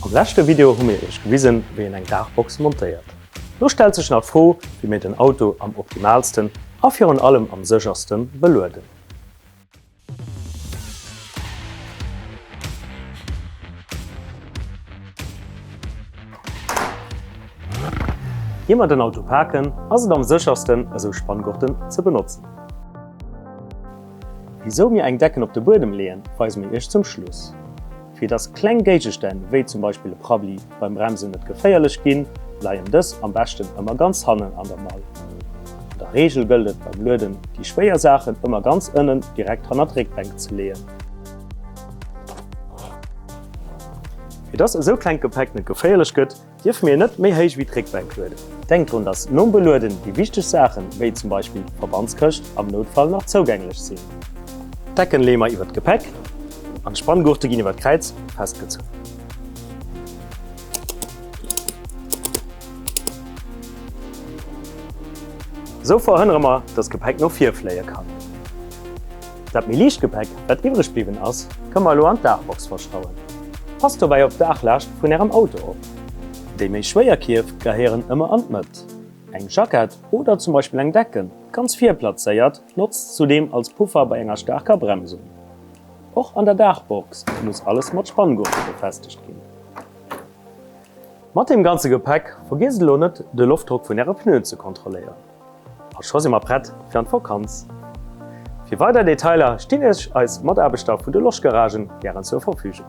Am leschte Video hu mir iech gewisen, wéi een eng Daachbox montéiert. Lo stellt sech nach d'Fro, wéi mir den Auto am optimaalsten a virun allem am sécherste belueden. Ier mer den Auto paken, ass et am séchersten, esou Spanngurten ze benotzen. Wisou mir eng Decken op de Buedem leeën, weise mir iech zum Schluss. Fir dass kleng Géigestänn, wéi zum Beispill e Prabbli, beim Bremsen net geféierlech ginn, leien dës am beschten ëmmer ganz hannen an der Mall. An der Reegel gëllt et beim Lueden, déi schwéier Saachen ëmmer ganz ënnen, direkt hanner d'Réckbänk ze leeën. Fir dass esou klengt Gepäck net geféierlech gëtt, Dierfe mir net méi héich wéi d'Réckbänk lueden. Denkt drun, dass nom Belueden déi wichteg Saachen, wéi zum Beispill d'Verbandskëscht, am Noutfall nach zougänglech sinn. D'Decken leeë mer iwwer d'Gepäck an d'Spanngurte ginn iwwer d'Kräiz festgezunn. Esou verhënnere mer, dass d'Gepäck no vir fléie kann. Dat méi liicht Gepäck, wat iwwreg bliwwen ass, kënne mer elo an d'Daachbox verschrauen. Passt dobäi op d'Daachlaascht vun Ärem Auto op. Déi méi schwéier Kierf gehéieren ëmmer an d'Mëtt. Eng Jackett oder zum Beispill eng Decken, ganz vir plazéiert, notzt zudeem als Puffer bei enger staarker Bremsung. Och an der Daachbox muss alles mat Spanngurte befestegt ginn. Mat deem ganze Gepäck vergiesst elo net, de Loftdrock vun Äre Pneuen ze kontrolléieren. A scho si mer prett fir an d'Vokanz! Fir weider Detailer stinn iech eis Mataarbechter vun de Loschgaragen gären zur Verfügung.